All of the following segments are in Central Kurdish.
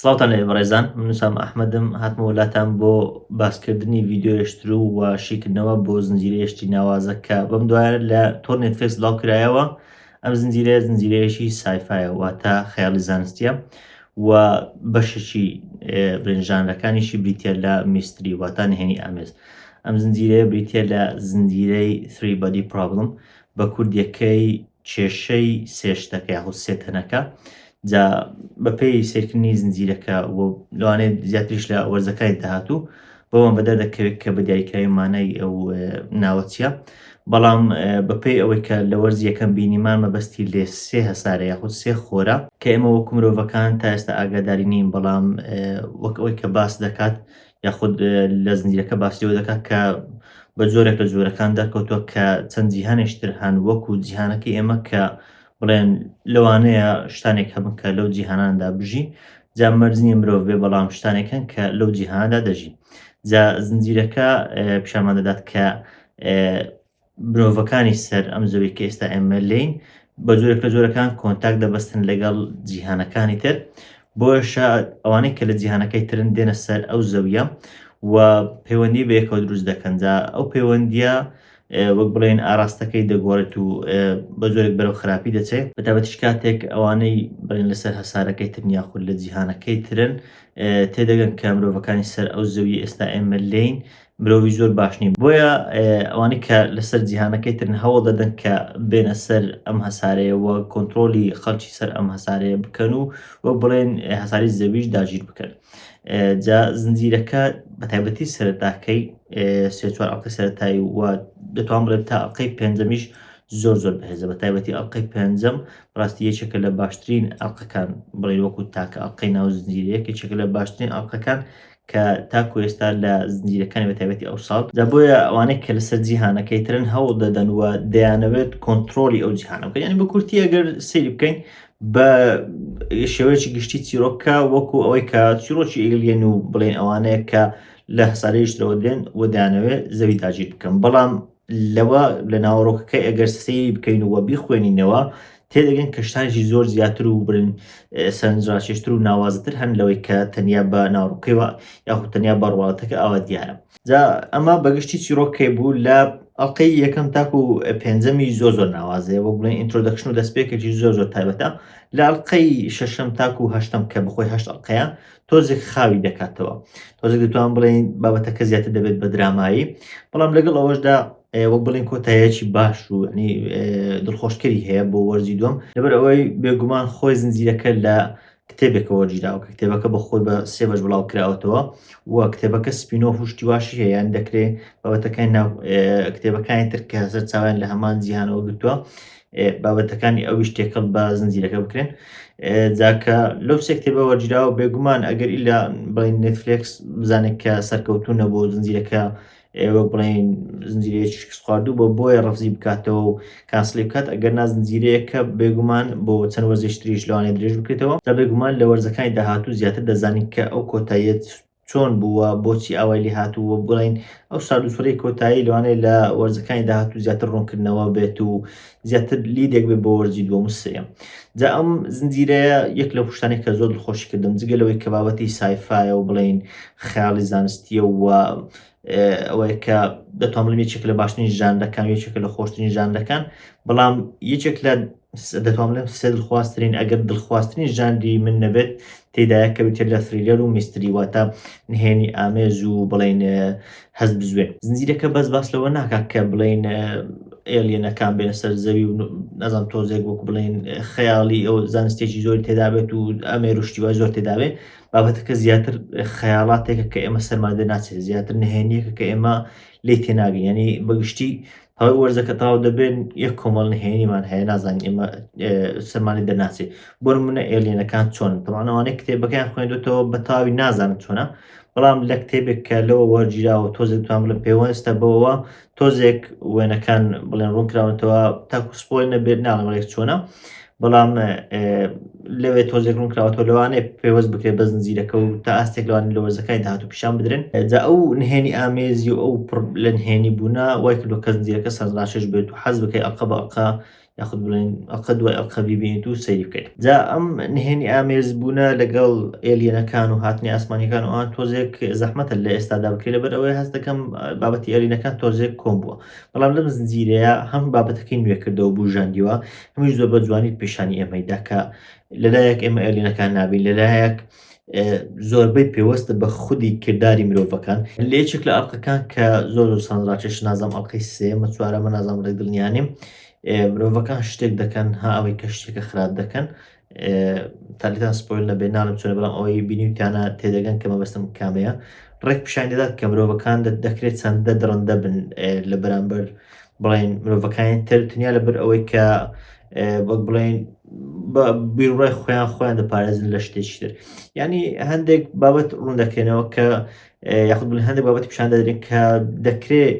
سڵاوتان لە بەڕێزان منوسام ئەحمەدم هاتمەوە لاتان بۆ باسکردنی ڤیددیوشتر و و شیکردنەوە بۆ زنجیرەیەشتی ناوازە کە بەم دوایە لە تۆر نێتفێکس لاو کرایەوە ئەم زنجیرەیە زنجیرەیەشی سایفایە واتە خەیاڵی زانستیە و بەشێکی برنج ژانرەکانیشی بریتییە لە میستری واتا نهێنی ئامێز ئەم زنجیرەیە بریتییە لە زنجیرەی Three Body Problem بە کوردیەکەی کێشەی سێشتەکە یاخود سێتەنەکە جا بەپێی سێرکردنی زنجیرەکە و لەوانێت زیاتریش لە وەرزەکانی داهاتوو بەوان بەدەر دەکەوێت کە بە دیاریکراوی مانای ئەو ناوە چیە بەڵام بەپێی ئەوەی کە لە وەرز یەکەم بینیمان مەبەستی لێ سێ هەسارە یاخود سێ خۆرە کە ئێمە وەکو مرۆڤەکان تا ئێستا ئاگاداری نین بەڵام وەک ئەوەی کە باس دەکات یاخود لە زنجیرەکە باسیەوە دەکات کە بە جۆرێک لە جۆرەکان دەرکەوتووە کە چەند جیهانێشتر هەن وەکو جیهانەکە ئێمە کە بڵێن لەوانەیە شتانێک هەبن کە لەو جیهاناندا بژین جا مەرج نییە مرۆڤ بێ بەڵام شتانێک هەن کە لەو جیهاندا دەژین جا زنجیرەکە پیشمان دەدات کە مرۆڤەکانی سەر ئەم زەوی کە ئێستا ئێمە لین بە جۆرە کە جۆرەکان کۆنتاک دەبەستن لەگەڵ جیهانەکانی تر بۆشە ئەوانەی کە لە جیهانەکەی ترن دێنە سەر ئەو زەویە و پەیوەندی بەیەکەوە دروست دەکەنجا ئەو پەیوەندیە وەک بڵێن ئاراستەکەی دەگۆڕێت و بە جۆرێک بەرەو خراپی دەچێت بەتابەتیش کاتێک ئەوانەی بڵێن لەسەر هەسارەکەی ترن یاخود لە جیهانەکەی ترن تێدەگەن کە مرۆڤەکانی سەر ئەو زەوی ئێستا ئێمە لین مرۆڤی زۆر باش نین بۆیە ئەوانی کە لەسەر جیهانەکەی ترن هەوڵ دەدەن کە بێنە سەر ئەم هەسارەیە وە کۆنتترۆلی خەڵکی سەر ئەم هەسارەیە بکەن و وە بڵێن هەساری زەویش داگیر بکەن جا زنجیرەکە بە تایبەتی سەرتاکەی سێ چوار ئەڵقی سەرتایی و دەتوان بڵێت تا ئەڵلقەی پێنجەمیش زۆر زۆر بەهێزە بە تایبەتی ئەڵلقەی پێنجەم ڕاستی یەکێکە لە باشترین ئەڵلقەکان بڵێ وەکو تاکە ئەڵلقەی ناو زنجیرەیەک یەکێکە لە باشترین ئەڵلقەکان کە تاکو ئێستا لە زنجیرەکانی بە تایبەتی ئەو ساڵ دا بۆیە ئەوانەی کە لەسەر جیهانەکەی ترن هەوڵ دەدەن و دەیانەوێت کۆنتترۆلی ئەو جیهانە بکەن ینی بە کورتی ئەگەر سری بکەین بە شێوەیەکی گشتی چیرۆکە وەکو ئەوەی کە چیرۆکی ئیلێن و بڵێن ئەوانەیە کە لە هەسارەیشتەوە دێن و دانەوێت زەوی داگیر بکەم بەڵام لەوە لە ناوەڕۆکەکەی ئەگەر سەیری بکەین و بیخوێنینەوە تێدەگەن کە شتانێکی زۆر زیاتر و برن سەرنجڕاکێشتر و ناوازەتر هەن لەوەی کە تەنیا بە ناوڕووکەوە یاخود تەنیا بەڕواڵەتەکە ئاوا دیارە جا ئەمە بەگشتی چیرۆک کەی بوو لە ئەڵلقەی یەکەم تاکو پێنجەمی زۆر زۆر ناوازەیە بۆ بڵێن ئینترۆدەکشن و دەستپێکێکی زۆر زۆر تایبەتە لە ئەڵلقەی شەشەم تاکو هەشتم کە بخۆی هەشت ئەڵلقەیە تۆزێک خاوی دەکاتەوە تۆزێک دەتوان بڵێن بابەتەکە زیاتر دەبێت بە درامایی بەڵام لەگەڵ ئەوەشدا وەک بڵین کۆتایەکی باش و ینی دڵخۆشکەری هەیە بۆ وەرزی دوم لەبەر ئەوەی بێگومان خۆی زنجیرەکە لە کتێبێکە وەرگیراوە کە کتێبەکە بە خۆی بە سێ بەش بڵاو کراوەتەوە و کتێبەکە سپینۆ هوشتی واشی هەیە یان دەکرێ بابەتەکانی ناو کتێبەکانی تر کە هەزر چاویان لە هەمان جیهانەوە گرتووە بابەتەکانی ئەویش تێکەڵ بە زنجیرەکە بکرێن جاکە لەو سێ کتێبە وەرگیراوە بێگومان ئەگەر ئیلا بڵین نێتفلێکس بزانێت کە سەرکەوتونە بۆ زنجیرەکە ئێ وەک بڵێن زنجیرەیەکی شکستخواردوو بۆ بۆیە ڕفزی بکاتەوە و کانسلی بکات ئەگەر نا زنجیرەیەکە بێگومان بۆ چەند وەرزێکی تریش لەوانەیە درێژ بکرێتەوە جا بێگومان لە وەرزەکانی داهاتوو زیاتر دەزانین کە ئەو کۆتاییە چۆن بووە بۆچی ئاوای لێ هاتوو و بڵین ئەو ساردوسڕی کۆتایی لەوانەیە لە وەرزەکانی داهاتوو زیاتر ڕوونکردنەوە بێت و زیاتر لیدێک بێ بۆ وەرزی دووەم و سێیەم جا ئەم زنجیرەیە یەک لە پشتانی کە زۆر خۆشی کردم جگە لەوەی کە بابەتی سایفاایە و بڵین خیاڵی زانستیە و ئەوەیە کە دەتوان بڵێن یەکێک لە باشترین ژانەکان یەکێک لە خۆشترین ژانەکان بەڵام یەکێک لە دەتوان لەم سێ دڵخوازترین ئەگەر دڵخوازترین ژاندی من نەبێت تێدایە کە بتێت لە فریلەر و میستری واتە نهێنی ئامێز و بڵین هەست بزوێ زنجیرەکە بەس باس لەوە ناکات کە بڵین ئێلیەنەکان بێنە سەر زەوی و نەزان تۆزێک وەک بڵین خەیاڵی ئەو زانستێکی زۆر تێدابێت و ئەمێر و شتیوای زۆر تێداوێت بابەتەکە زیاتر خەیاڵاتێکە کە ئێمە سەرمادە ناچێت زیاتر نهێنیەکە کە ئێمە لی تێناگەین ینی بەگشتی ئەو وەرزە کە تاو دەبێت یەک کۆمەڵ نهێنیمان هەیە نازانین ئێمە سەرمانی دەناسێ بۆ منە ئێلێنەکان چۆن تەوانەوانەی کتێبەکەیان خوێندێتەوە بە تاوی نازانم چۆنە بەڵام لە کتێبێک کە لەوە وەرگیراوە تۆزێک توان لە پێوەستە بەوەوە تۆزێک وێنەکان بڵێن ڕوونکراونەتەوە تاکوسپۆی نەبێت ناڵمەێک چۆنە بەڵام لەوێ تۆزێک ڕوون کراوەەوە لەوانێ پێوەست بکرێت بە زنجیرەکە و تا ئاستێک لەوان لە وەرزەکانی داهات و پیشان بدرێن جا ئەو نهێنی ئامێزی و ئەو لە نهێنی بوونا وای کردو کە زنجیرەکە سەرڕاشش بێت و حەز بکەی ئەقە بە ئەقا یاخود بڵێن ئەقە دوای ئەقە ببینیت و سەیری بکەیت جا ئەم نهێنی ئامێز بوونە لەگەڵ ئێلیەنەکان و هاتنی ئاسمانەکان ئەوان تۆزێک زەحمەتە لە ئێستادا بکرێت لەبەر ئەوەی هەست دەکەم بابەتی ئەلینەکان تۆزێک کۆم بووە بەڵام لەم زنجیرەیە هەم بابەتەکەی نوێ کردەوە بوو ژاندیوە ئەمەش زۆر بە جوانی پیشانی ئێمەی دا کە لەلایەک ئێمە ئەلینەکان نابین لەلایەک زۆربەی پێوەستە بە خودی کردداری مرۆڤەکان لە یەکێک لە ئەڵلقەکان کە زۆر زۆر سانراچێش نازم ئەڵلقەی سێمە چوارەمە نازم ڕێک دڵنیانیم مرۆڤەکان شتێک دەکەن ها ئەوەی کە شتێکە خراپ دەکەن تالیتان سپۆیل نەبێ ناڵم چۆنە بەڵام ئەوەی بینیوتانە تێدەگەن کە مەبەستم کامەیە ڕێک پیشان دەدات کە مرۆڤەکان دەکرێت چەندە دڕندە بن لە بەرامبەر بڵێن مرۆڤەکانی تر تنیا لەبەر ئەوەی کە وەک بڵێن بیرڕای خۆیان خۆیان دەپارێزن لە شتێکی تر ینی هەندێک بابەت ڕوون دەکرێنەوە کە یاخود بڵێن هەندێک بابەت پیشان دەدرێن کە دەکرێت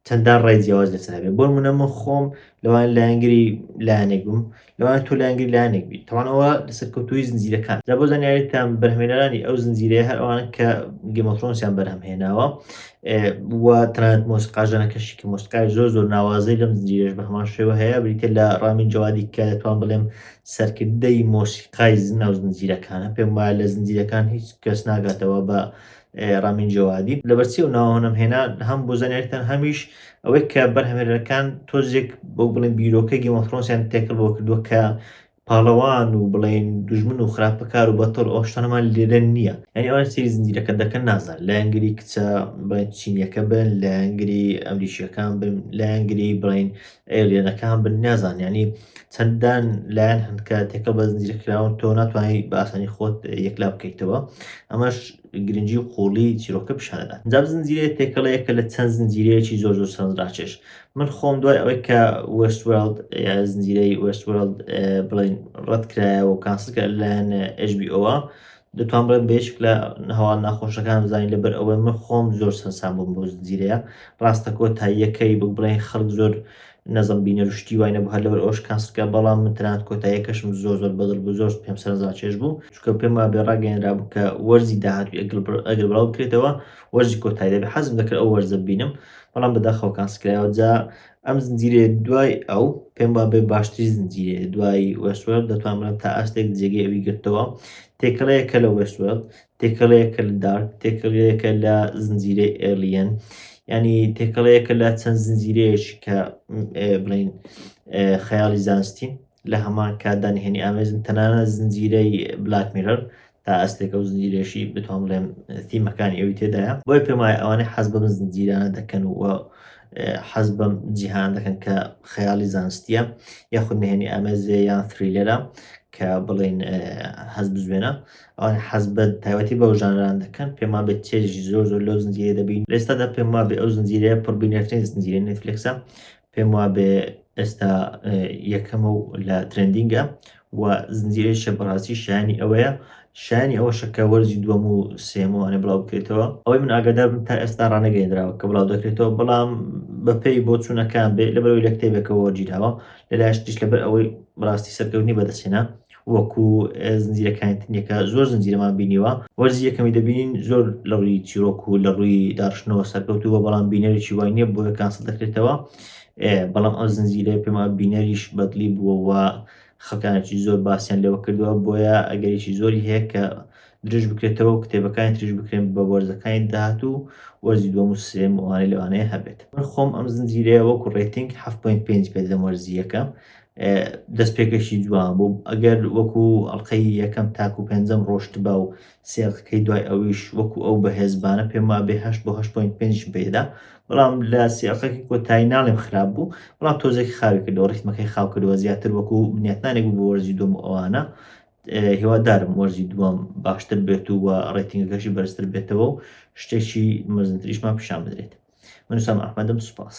چەندان ڕای جیاواز لەسەر هەبێت بۆ نمونە من خۆم لەوان لایەنگری لایەنێک بم لەوان تۆ لایەنگری لایەنێک بی تەوانەوە لەسەر کەوتوی زنجیرەکان لە بۆ زانیاریتان بەرهمێنەرانی ئەو زنجیرەیە هەر ئەوان کە گەمەفرۆنسیان بەرهەم هێناوە و تەنانەت مۆسیقاژەنەکەشی کە مۆسیقای زۆر زۆر ناوازەی لەم زنجیرەش بە هەمان شێوە هەیە بریتە لە ڕامین جوادی کە دەتوان بڵێم سەرکردەی مۆسیقای زناو زنجیرەکانە پێم وایە لە زنجیرەکان هیچ کەس ناگاتەوە بە ڕامین جەوادی لەبەرچی و ناوەنم هێنان هەم بۆ زانیارتان هەمیش ئەوەی کە بەرهەمێرەکان تۆزێک بۆ بڵێن بیرۆکە گیمەفرۆنسیان تێکەڵ بۆ کردووە کە پاڵەوان و بڵێن دوژمن و خراپەکار و بەتەڵ ئەوشتانەمان لێرە نییە یعنی ئەوان سری زنجیرەکە دەکەن نازان لایەنگری کچە بڵێن چینیەکە بن لایەنگری ئەمریکیەکان بن لایەنگری بڵین ئێلیەنەکان بن نازان یعنی چەندان لایەن هەن کە تێکە بە زنجیرە کراون تۆ ناتوانانی بە ئاسانی خۆت یەکلا بکەیتەوە ئەمەش گرنگی و قوڵی چیرۆکە پیشانەدا جاب زنجیرەیە تێکەڵەیە کە لە چەند زنجیرەیەکی زۆر زۆر سەنراچێش من خۆم دوای ئەوەی کە وستوێڵد زنجیرەی وستوێڵد بڵین ڕەت کرایەوە و کانسکە لایەن ئەژبی ئەوە دەتوان بڵێم بە یەکێک لە هەواڵە ناخۆشەکان بزانین لەبەر ئەوەی من خۆم زۆر سەرسام بووم بەو زنجیرەیە ڕاستە کۆتاییەکەی بک بڵێن خەڵک زۆر نەزم بینەر و شتی وای نەبوو هەر لەبەر ئەوش کانسکە بەڵام من تەنانەت کۆتاییەکەشم زۆر زۆر بەدڵ بوو زۆر پێم سەرنجڕاکێش بوو چونکە پێم وایە بێ ڕاگەیێنرا بوو کە وەرزی داهاتووی ئەگەر بڕ- ئەگەر بڵاو بکرێتەوە وەرزی کۆتایی دەبێت حەزم دەکرد ئەو وەرزە ببینم بەڵام بەداخەوە کانسکرایەوە جا ئەم زنجیرەیە دوای ئەو پێم با بێ باشتری زنجیرەیە دوای وەسوەر دەتوانم تا ئاستێک جێگەی ئەوی گرتەوە تێکەڵەیە کە لە وەسوەر تێکەڵەیە کە لە دارک تێکەڵەیە کە لە زنجیرەی ئێلیەن ینی تێکەڵەیە کە لە چەند زنجیرەیەش کە بڵین خەیاڵی زانستین لە هەمان کاتدانهێنی ئامێزن تەنانە زنجیرەی بلاک میرەر تا ئەستێکە و زنجیرەیەشی بتوان بڵێم تیمەکانی ئەوی تێدایە بۆی پێم وایە ئەوانەی حەز بەم زنجیرانە دەکەن و حەز بەم جیهان دەکەن کە خەیاڵی زانستیە یاخود نهێنی ئامێزێ یان فریلەرە کە بڵێن حەز بزوێنە ئەوان حەز بە تایوەتی بەو ژانران دەکەن پێما بێت چێژی زۆر زۆر لەو زنجیرە دەبین لێستادا پێما بێ ئەو زنجیرەیە پڕبینەرترین زنجیرە نێتفلکسە پێم وابێ ئێستا یەکەمە و لە ترندینگە و زنجیرەی شە بەڕاستی شایانی ئەوەیە شایانی ئەوە شەکە وەرزی دووەم و سێمەوانە بڵاو بکرێتەوە ئەوەی من ئاگادار بن تا ئێستا ڕانەگەێنراوە کە بڵاو دەکرێتەوە بەڵام بەپێی بۆ چوونەکان بێ لە بەرەوەی لە کتێبێکەوە جیراوە لەلایشتیش لەبەر ئەوەی ڕاستی سەرکەوتنی بەدەستێنا وەکو زنجیرەکانی تنیەکە زۆر زنجیرەمان بینیوە وەرزی یەکەمی دەبینین زۆر لە ڕووی چیرۆک و لە ڕووی داڕشتنەوە سەرکەوتو بە بەڵام بینەرێکی وای نییە بۆیە کاسە دەکرێتەوە بەڵام ئەو زنجیرە پێما بینەریش بەدلی بووەوە خەکانێکی زۆر باسییان لەوە کردووە بۆیە ئەگەریی زۆری هەیە کە درژ بکرێتەوە و کتێبەکانی تریش بکرێن بە وەرزەکانی داهات و وەرزی دووەم و سێم ئەوانەی لەوانەیە هەبێت من خۆم ئەم زنجیرەیە وەکو ڕێتنگ 7.5 پێ دەدەم وەرزیەکە دەستپێکەشی جوان بوو ئەگەر وەکو ئەڵلقەی یەکەم تاکو پێنجەم ڕۆشت با و سێڵقەکەی دوای ئەویش وەکو ئەو بەهێزبانە پێم وا بێ هەشت بۆ هەشت پوینت پێنج بێدا بەڵام لە سێڵقەکەی کۆتایی ناڵێم خراپ بوو بەڵام تۆزێک خاوی کردەوە ڕیتمەکەی خاو کردەوە زیاتر وەکو بنیاتنانێک بوو بۆ وەرزی دوم و ئەوانە هیوادارم وەرزی دووەم باشتر بێت و وە ڕێتنگەکەشی بەرزتر بێتەوە و شتێکی مەزنتریشمان پیشان بدرێت منوسام ئەحمەدم سوپاس